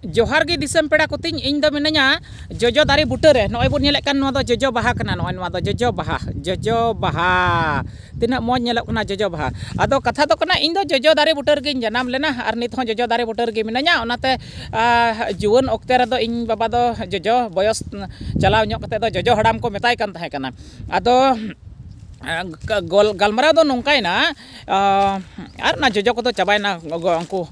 ᱡᱚᱦᱟᱨ ᱜᱮ ᱫᱤᱥᱚᱢ ᱯᱮᱲᱟ ᱠᱚᱛᱤᱧ ᱤᱧ ᱫᱚ ᱢᱤᱱᱟᱹᱧᱟ ᱡᱚᱡᱚ ᱫᱟᱨᱮ ᱵᱩᱴᱟᱹ ᱨᱮ ᱱᱚᱜᱼᱚᱭ ᱵᱚᱱ ᱧᱮᱞᱮᱫ ᱠᱟᱱ ᱱᱚᱣᱟ ᱫᱚ ᱡᱚᱡᱚ ᱵᱟᱦᱟ ᱠᱟᱱᱟ ᱱᱚᱜᱼᱚᱭ ᱱᱚᱣᱟ ᱫᱚ ᱡᱚᱡᱚ ᱵᱟᱦᱟ ᱡᱚᱡᱚ ᱵᱟᱦᱟ ᱛᱤᱱᱟᱹᱜ ᱢᱚᱡᱽ ᱧᱮᱞᱚᱜ ᱠᱟᱱᱟ ᱡᱚᱡᱚ ᱵᱟᱦᱟ ᱟᱫᱚ ᱠᱟᱛᱷᱟ ᱫᱚ ᱠᱟᱱᱟ ᱤᱧ ᱫᱚ ᱡᱚᱡᱚ ᱫᱟᱨᱮ ᱵᱩᱴᱟᱹ ᱨᱮᱜᱮᱧ ᱡᱟᱱᱟᱢ ᱞᱮᱱᱟ ᱟᱨ ᱱᱤᱛ ᱦᱚᱸ ᱡᱚᱡᱚ ᱫᱟᱨᱮ ᱵᱩᱴᱟᱹ ᱨᱮᱜᱮ ᱢᱤᱱᱟᱹᱧᱟ ᱚᱱᱟᱛᱮ ᱡᱩᱣᱟᱹᱱ ᱚᱠᱛᱮ ᱨᱮᱫᱚ ᱤᱧ ᱵᱟᱵᱟ ᱫᱚ ᱡᱚᱡᱚ ᱵᱚᱭᱚᱥ ᱪᱟᱞᱟᱣ ᱧᱚᱜ ᱠᱟᱛᱮᱫ ᱫᱚ ᱡᱚᱡᱚ ᱦᱟᱲᱟᱢ ᱠᱚ ᱢᱮᱛᱟᱭ ᱠᱟᱱ ᱛᱟᱦᱮᱸ ᱠᱟᱱᱟ ᱟᱫᱚ ᱜᱟᱞᱢᱟᱨᱟᱣ ᱫᱚ ᱱᱚᱝᱠᱟᱭᱮᱱᱟ ᱟᱨ ᱚᱱᱟ ᱡᱚᱡᱚ ᱠᱚᱫᱚ ᱪᱟᱵᱟᱭᱮᱱᱟ ᱩᱱᱠᱩ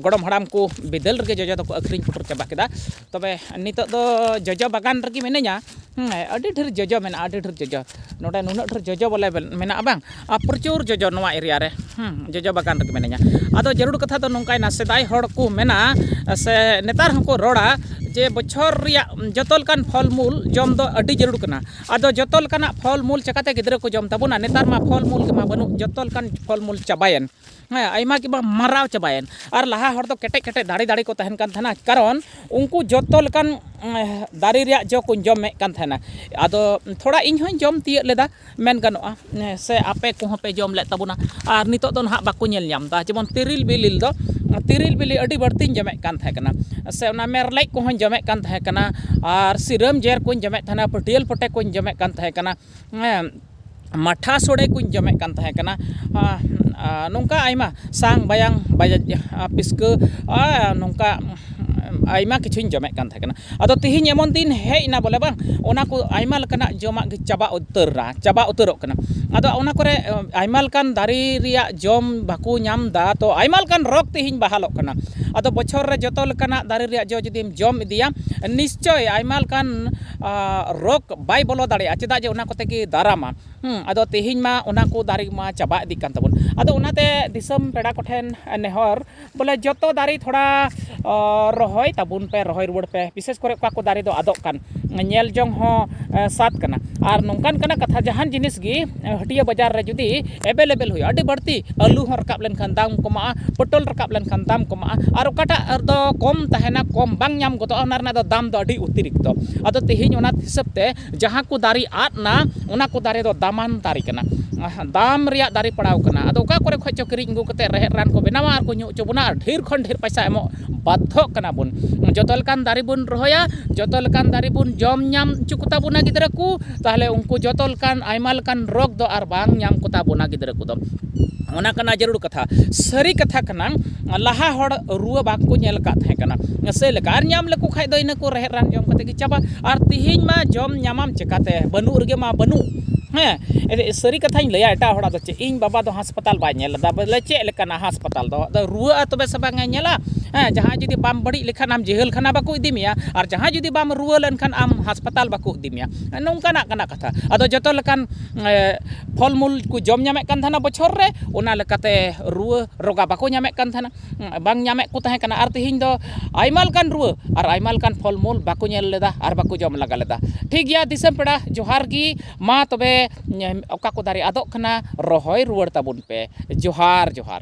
ᱜᱚᱲᱚᱢ ᱦᱟᱲᱟᱢ ᱠᱚ ᱵᱤᱫᱟᱹᱞ ᱨᱮᱜᱮ ᱡᱚᱡᱚ ᱫᱚᱠᱚ ᱟᱹᱠᱷᱨᱤᱧ ᱯᱩᱴᱩᱨ ᱪᱟᱵᱟ ᱠᱮᱫᱟ ᱛᱚᱵᱮ ᱱᱤᱛᱚᱜ ᱫᱚ ᱡᱚᱡᱚ ᱵᱟᱜᱟᱱ ᱨᱮᱜᱮ ᱢᱤᱱᱟᱹᱧᱟ ᱦᱮᱸ ᱟᱹᱰᱤ ᱰᱷᱮᱨ ᱡᱚᱡᱚ ᱢᱮᱱᱟᱜᱼᱟ ᱟᱹᱰᱤ ᱰᱷᱮᱨ ᱡᱚᱡᱚ ᱱᱚᱰᱮ ᱱᱩᱱᱟᱹᱜ ᱰᱷᱮᱨ ᱡᱚᱡᱚ ᱵᱚᱞᱮ ᱢᱮᱱᱟᱜᱼᱟ ᱵᱟᱝ ᱟᱨ ᱯᱨᱚᱪᱩᱨ ᱡᱚᱡᱚ ᱱᱚᱣᱟ ᱮᱨᱤᱭᱟ ᱨᱮ ᱦᱮᱸ ᱡᱚᱡᱚ ᱵᱟᱜᱟᱱ ᱨᱮᱜᱮ ᱢᱤᱱᱟᱹᱧᱟ ᱟᱫᱚ ᱡᱟᱹᱨᱩᱲ ᱠᱟᱛᱷᱟ ᱫᱚ ᱱᱚᱝᱠᱟᱭᱮᱱᱟ ᱥᱮᱫᱟᱭ ᱦᱚᱲ ᱠᱚ ᱢᱮᱱᱟ ᱥᱮ ᱱᱮᱛᱟᱨ ᱦᱚᱸᱠᱚ ᱨᱚᱲᱟ ᱡᱮ ᱵᱚᱪᱷᱚᱨ ᱨᱮᱭᱟᱜ ᱡᱚᱛᱚ ᱞᱮᱠᱟᱱ ᱯᱷᱚᱞ ᱢᱩᱞ ᱡᱚᱢ ᱫᱚ ᱟᱹᱰᱤ ᱡᱟᱹᱨᱩᱲ ᱠᱟᱱᱟ ᱟᱫᱚ ᱡᱚᱛᱚ ᱞᱮᱠᱟᱱᱟᱜ ᱯᱷᱚᱞ ᱢᱩᱞ ᱪᱤᱠᱟᱹᱛᱮ ᱜᱤᱫᱽᱨᱟᱹ ᱠᱚ ᱡᱚᱢ ᱛᱟᱵᱚᱱᱟ ᱱᱮᱛᱟᱨ ᱢᱟ ᱯᱷᱚᱞ ᱢᱩᱞ ᱜᱮᱢᱟ ᱵᱟᱹᱱᱩᱜ ᱡᱚᱛᱚ ᱞᱮᱠᱟᱱ ᱯᱷᱚᱞ ᱢᱩᱞ ᱪᱟᱵᱟᱭᱮᱱ ᱦᱮᱸ ᱟᱭᱢᱟ ᱜᱮᱵᱚᱱ ᱢᱟᱨᱟᱣ ᱪᱟᱵᱟᱭᱮᱱ ᱟᱨ ᱞᱟᱦᱟ ᱦᱚᱲ ᱫᱚ ᱠᱮᱴᱮᱡ ᱠᱮᱴᱮᱡ ᱫᱟᱲᱮ ᱫᱟᱲᱮ ᱠᱚ ᱛᱟᱦᱮᱱ ᱠᱟᱱ ᱛᱟᱦᱮᱱᱟ ᱠᱟᱨᱚᱱ ᱩᱱᱠᱩ ᱡᱚᱛᱚ ᱞᱮᱠᱟᱱ ᱫᱟᱨᱮ ᱨᱮᱭᱟᱜ ᱡᱚ ᱠᱚᱧ ᱡᱚᱢᱮᱜ ᱠᱟᱱ ᱛᱟᱦᱮᱱᱟ ᱟᱫᱚ ᱛᱷᱚᱲᱟ ᱤᱧ ᱦᱚᱸᱧ ᱡᱚᱢ ᱛᱤᱭᱳᱜ ᱞᱮᱫᱟ ᱢᱮᱱ ᱜᱟᱱᱚᱜᱼᱟ ᱥᱮ ᱟᱯᱮ ᱠᱚᱦᱚᱸ ᱯᱮ ᱡᱚᱢ ᱞᱮᱫ ᱛᱟᱵᱚᱱᱟ ᱟᱨ ᱱᱤᱛᱚᱜ ᱫᱚ ᱱᱟᱦᱟᱜ ᱵᱟᱠᱚ ᱧᱮᱞ ᱧᱟᱢ ᱮᱫᱟ ᱡᱮᱢᱚᱱ ᱛᱮᱨᱮᱞ ᱵᱤᱞᱤ ᱫᱚ ᱛᱮᱨᱮᱞ ᱵᱤᱞᱤ ᱟᱹᱰᱤ ᱵᱟᱹᱲᱛᱤᱧ ᱡᱚᱢᱮᱜ ᱠᱟᱱ ᱛᱟᱦᱮᱸ ᱠᱟᱱᱟ ᱥᱮ ᱚᱱᱟ ᱢᱮᱨᱞᱮᱡ ᱠᱚᱦᱚᱸᱧ ᱡᱚᱢᱮᱜ ᱠᱟᱱ ᱛᱟᱦᱮᱸ ᱠᱟᱱᱟ ᱟᱨ ᱥᱤᱨᱟᱹᱢ ᱡᱮᱨ ᱠᱚᱧ ᱡᱚᱢᱮᱜ ᱠᱟᱱ ᱛᱟᱦᱮᱱᱟ ᱯᱟᱹᱴᱭᱟᱹᱞ ᱯᱚᱴᱮ ᱠᱚᱧ ᱡᱚᱢᱮᱜ ᱠᱟᱱ ᱛᱟᱦᱮᱸ ᱠᱟᱱᱟ ᱦᱮᱸ ᱢᱟᱴᱷᱟ ᱥᱚᱲᱮ ᱠᱚᱧ ᱡᱚᱢᱮᱜ ᱠᱟᱱ ᱛᱟᱦᱮᱸ ᱠᱟᱱᱟ ᱟᱨ ᱱᱚᱝᱠᱟ ᱟᱭᱢᱟ ᱥᱟᱝ ᱵᱟᱭᱟᱝ ᱯᱤᱥᱠᱟᱹ ᱟᱨ ᱱᱚᱝᱠᱟ ᱟᱭᱢᱟ ᱠᱤᱪᱷᱩᱧ ᱡᱚᱢᱮᱜ ᱠᱟᱱ ᱛᱟᱦᱮᱸ ᱠᱟᱱᱟ ᱟᱫᱚ ᱛᱤᱦᱤᱧ ᱮᱢᱚᱱ ᱫᱤᱱ ᱦᱮᱡ ᱮᱱᱟ ᱵᱚᱞᱮ ᱵᱟᱝ ᱚᱱᱟ ᱠᱚ ᱟᱭᱢᱟ ᱞᱮᱠᱟᱱᱟᱜ ᱡᱚᱢᱟᱜ ᱜᱮ ᱪᱟᱵᱟ ᱩᱛᱟᱹᱨ ᱮᱱᱟ ᱪᱟᱵᱟ ᱩᱛᱟᱹᱨᱚᱜ ᱠᱟᱱᱟ ᱟᱫᱚ ᱚᱱᱟ ᱠᱚᱨᱮ ᱟᱭᱢᱟ ᱞᱮᱠᱟᱱ ᱫᱟᱨᱮ ᱨᱮᱭᱟᱜ ᱡᱚᱢ ᱵᱟᱠᱚ ᱧᱟᱢ ᱮᱫᱟ ᱛᱚ ᱟᱭᱢᱟ ᱞᱮᱠᱟᱱ ᱨᱳᱜᱽ ᱛᱤᱦᱤᱧ ᱵᱟᱦᱟᱞᱚᱜ ᱠᱟᱱᱟ ᱟᱫᱚ ᱵᱚᱪᱷᱚᱨ ᱨᱮ ᱡᱚᱛᱚ ᱞᱮᱠᱟᱱᱟᱜ ᱫᱟᱨᱮ ᱨᱮᱭᱟᱜ ᱡᱚ ᱡᱩᱫᱤᱢ ᱡᱚᱢ ᱤᱫᱤᱭᱟ ᱱᱤᱥᱪᱳᱭ ᱟᱭᱢᱟ ᱞᱮᱠᱟᱱ ᱨᱳᱜᱽ ᱵᱟᱭ ᱵᱚᱞᱚ ᱫᱟᱲᱮᱭᱟᱜᱼᱟ ᱪᱮᱫᱟᱜ ᱡᱮ ᱚᱱᱟ ᱠᱚᱛᱮ ᱜᱮ ᱫᱟᱨᱟᱢᱟ ᱟᱫᱚ ᱛᱤᱦᱤᱧ ᱢᱟ ᱚᱱᱟ ᱠᱚ ᱫᱟᱨᱮ ᱢᱟ ᱪᱟᱵᱟ ᱤᱫᱤᱜ ᱠᱟᱱ ᱛᱟᱵᱚᱱ ᱟᱫᱚ ᱚᱱᱟᱛᱮ ᱫᱤᱥᱚᱢ ᱯᱮᱲᱟ ᱠᱚᱴᱷᱮᱱ ᱱᱮᱦᱚᱨ ᱵᱚᱞᱮ ᱡᱚᱛᱚ ᱫᱟᱨᱮ ᱛᱷᱚᱲᱟ ᱨᱚᱦᱚᱭ ᱛᱟᱵᱚᱱ ᱯᱮ ᱨᱚᱦᱚᱭ ᱨᱩᱣᱟᱹᱲ ᱯᱮ ᱵᱤᱥᱮᱥ ᱠᱚᱨᱮ ᱚᱠᱟ ᱠᱚ ᱫᱟᱨᱮ ᱫᱚ ᱟᱫᱚᱜ ᱠᱟᱱ ᱧᱮᱞ ᱡᱚᱝ ᱦᱚᱸ ᱥᱟᱫ ᱠᱟᱱᱟ ᱟᱨ ᱱᱚᱝᱠᱟᱱ ᱠᱟᱱᱟ ᱠᱟᱛᱷᱟ ᱡᱟᱦᱟᱱ ᱡᱤᱱᱤᱥ ᱜᱮ ᱦᱟᱹᱴᱤᱭᱟᱹ ᱵᱟᱡᱟᱨ ᱨᱮ ᱡᱩᱫᱤ ᱮᱵᱮᱞᱮᱵᱮᱞ ᱦᱩᱭᱩᱜᱼᱟ ᱟᱹᱰᱤ ᱵᱟᱹᱲᱛᱤ ᱟᱹᱞᱩ ᱦᱚᱸ ᱨᱟᱠᱟᱵ ᱞᱮᱱᱠᱷᱟᱱ ᱫᱟᱢ ᱠᱚᱢᱟᱜᱼᱟ ᱯᱚᱴᱚᱞ ᱨᱟᱠᱟᱵ ᱞᱮᱱᱠᱷᱟᱱ ᱫᱟᱢ ᱠᱚᱢᱟᱜᱼᱟ ᱟᱨ ᱚᱠᱟᱴᱟᱜ ᱫᱚ ᱠᱚᱢ ᱛᱟᱦᱮᱱᱟ ᱠᱚᱢ ᱵᱟᱝ ᱧᱟᱢ ᱜᱚᱫᱚᱜᱼᱟ ᱚᱱᱟ ᱨᱮᱱᱟᱜ ᱫᱚ ᱫᱟᱢ ᱫᱚ ᱟᱹᱰᱤ ᱚᱛᱤᱨᱤᱠᱛᱚ ᱟᱫᱚ ᱛᱮᱦᱮᱧ ᱚᱱᱟ ᱦᱤᱥᱟᱹᱵ ᱛᱮ ᱡᱟᱦᱟᱸ ᱠᱚ ᱫᱟᱨᱮ ᱟᱫ ᱮᱱᱟ ᱚᱱᱟ ᱠᱚ ᱫᱟᱨᱮ ᱫᱚ ᱫᱟᱢᱟᱱ ᱫᱟᱨᱮ ᱠᱟᱱᱟ ᱫᱟᱢ ᱨᱮᱭᱟᱜ ᱫᱟᱨᱮ ᱯᱟᱲᱟᱣ ᱠᱟᱱᱟ ᱟᱫᱚ ᱚᱠᱟ ᱠᱚᱨᱮ ᱠᱷᱚᱱ ᱪᱚ ᱠᱤᱨᱤᱧ ᱟᱹᱜᱩ ᱠᱟᱛᱮᱫ ᱨᱮᱦᱮᱫ ᱨᱟᱱ ᱠᱚ ᱵᱮᱱᱟᱣᱟ ᱟᱨ ᱠᱚ ᱧᱩ ᱦᱚᱪᱚ ᱵᱚᱱᱟ ᱟᱨ ᱰᱷᱮᱨ ᱠᱷᱚᱱ ᱰᱷᱮᱨ ᱯᱚᱭᱥᱟ ᱮᱢᱚᱜ ᱵᱟᱫᱽᱫᱷᱚᱜ ᱠᱟᱱᱟ ᱵᱚᱱ ᱡᱚᱛᱚ ᱞᱮᱠᱟᱱ ᱫᱟᱨᱮ ᱵᱚᱱ ᱨᱚᱦᱚᱭᱟ ᱡᱚᱛᱚ ᱞᱮᱠᱟᱱ ᱫᱟᱨᱮ ᱵᱚᱱ ᱡᱚᱢ ᱧᱟᱢ ᱦᱚᱪᱚ ᱠᱚᱛᱟ ᱵᱚᱱᱟ ᱜᱤᱫᱽᱨᱟᱹ ᱠᱚ ᱛᱟᱦᱚᱞᱮ ᱩᱱᱠᱩ ᱡᱚᱛᱚ ᱞᱮᱠᱟᱱ ᱟᱭᱢᱟ ᱞᱮᱠᱟᱱ ᱨᱳᱜᱽ ᱫᱚ ᱟᱨ ᱵᱟᱝ ᱧᱟᱢ ᱠᱚᱛᱟ ᱵᱚᱱᱟ ᱜᱤᱫᱽᱨᱟᱹ ᱠᱚᱫᱚ ᱚᱱᱟ ᱠᱟᱱᱟ ᱡᱟᱹᱨᱩᱲ ᱠᱟᱛᱷᱟ ᱥᱟᱹᱨᱤ ᱠᱟᱛᱷᱟ ᱠᱟᱱᱟ ᱞᱟᱦᱟ ᱦᱚᱲ ᱨᱩᱣᱟᱹ ᱵᱟᱠᱚ ᱧᱮᱞ ᱟᱠᱟᱫ ᱛᱟᱦᱮᱸ ᱠᱟᱱᱟ ᱥᱮᱭ ᱞᱮᱠᱟ ᱟᱨ ᱧᱟᱢ ᱞᱮᱠᱚ ᱠᱷᱟᱱ ᱫᱚ ᱤᱱᱟᱹ ᱠᱚ ᱨᱮᱦᱮᱫ ᱨᱟᱱ ᱡᱚᱢ ᱠᱟᱛᱮᱫ ᱜᱮ ᱪᱟᱵᱟ ᱟᱨ ᱛᱮᱦᱮᱧ ᱢᱟ ᱡᱚᱢ ᱧᱟᱢᱟᱢ ᱪᱤᱠᱟᱹᱛᱮ ᱵᱟᱹᱱᱩᱜ ᱨᱮᱜᱮ ᱢᱟ ᱵᱟᱹᱱᱩᱜ ᱦᱮᱸ ᱥᱟᱹᱨᱤ ᱠᱟᱛᱷᱟᱧ ᱞᱟᱹᱭᱟ ᱮᱴᱟᱜ ᱦᱚᱲᱟᱜ ᱫᱚ ᱪᱮᱫ ᱤᱧ ᱵᱟᱵᱟ ᱫᱚ ᱦᱟᱥᱯᱟᱛᱟᱞ ᱵᱟᱭ ᱧᱮᱞ ᱞᱮᱫᱟ ᱵᱚᱞᱮ ᱪᱮᱫ ᱞᱮᱠᱟᱱᱟ ᱦᱟᱥᱯᱟᱛᱟᱞ ᱫᱚ ᱟᱫᱚ ᱨᱩᱣᱟᱹᱜᱼᱟ ᱛᱚᱵᱮ ᱥᱮ ᱵᱟᱝ ᱮ ᱧᱮᱞᱟ ᱦᱮᱸ ᱡᱟᱦᱟᱸᱭ ᱡᱩᱫᱤ ᱵᱟᱢ ᱵᱟᱹᱲᱤᱡ ᱞᱮᱠᱷᱟᱱ ᱟᱢ ᱡᱮᱦᱮᱞ ᱠᱷᱟᱱᱟ ᱵᱟᱠᱚ ᱤᱫᱤ ᱢᱮᱭᱟ ᱟᱨ ᱡᱟᱦᱟᱸᱭ ᱡᱩᱫᱤ ᱵᱟᱢ ᱨᱩᱣᱟᱹ ᱞᱮᱱᱠᱷᱟᱱ ᱟᱢ ᱦᱟᱥᱯᱟᱛᱟᱞ ᱵᱟᱠᱚ ᱤᱫᱤ ᱢᱮᱭᱟ ᱱᱚᱝᱠᱟᱱᱟᱜ ᱠᱟᱱᱟ ᱠᱟᱛᱷᱟ ᱟᱫᱚ ᱡᱚᱛᱚ ᱞᱮᱠᱟᱱ ᱯᱷᱚᱞ ᱢᱩᱞ ᱠᱚ ᱡᱚᱢ ᱧᱟᱢᱮᱜ ᱠᱟᱱ ᱛᱟᱦᱮᱱᱟ ᱵᱚᱪᱷᱚᱨ ᱨᱮ ᱚᱱᱟ ᱞᱮᱠᱟᱛᱮ ᱨᱩᱣᱟᱹ ᱨᱳᱜᱟ ᱵᱟᱠᱚ ᱧᱟᱢᱮᱜ ᱠᱟᱱ ᱛᱟᱦᱮᱱᱟ ᱵᱟᱝ ᱧᱟᱢᱮᱫ ᱠᱚ ᱛᱟᱦᱮᱸ ᱠᱟᱱᱟ ᱟᱨ ᱛᱮᱦᱮᱧ ᱫᱚ ᱟᱭᱢᱟ ᱞᱮᱠᱟᱱ ᱨᱩᱣᱟᱹ ᱟᱨ ᱟᱭᱢᱟ ᱞᱮᱠᱟᱱ ᱯᱷᱚᱞ ᱢᱩᱞ ᱵᱟᱠᱚ ᱧᱮᱞ ᱞᱮᱫᱟ ᱟᱨ ᱵᱟᱠᱚ ᱡᱚᱢ ᱞᱟᱜᱟ ᱞᱮᱫᱟ ᱴᱷᱤᱠ ᱜᱮᱭᱟ ᱫᱤᱥᱚᱢ ᱯᱮᱲᱟ ᱡᱚᱦᱟᱨ ᱜᱮ ᱢᱟ ᱛᱚᱵᱮ ᱚᱠᱟ ᱠᱚ ᱫᱟᱨᱮ ᱟᱫᱚᱜ ᱠᱟᱱᱟ ᱨᱚᱦᱚᱭ ᱨᱩᱣᱟᱹᱲ ᱛᱟᱵᱚᱱ ᱯᱮ ᱡᱚᱦᱟᱨ ᱡᱚᱦᱟᱨ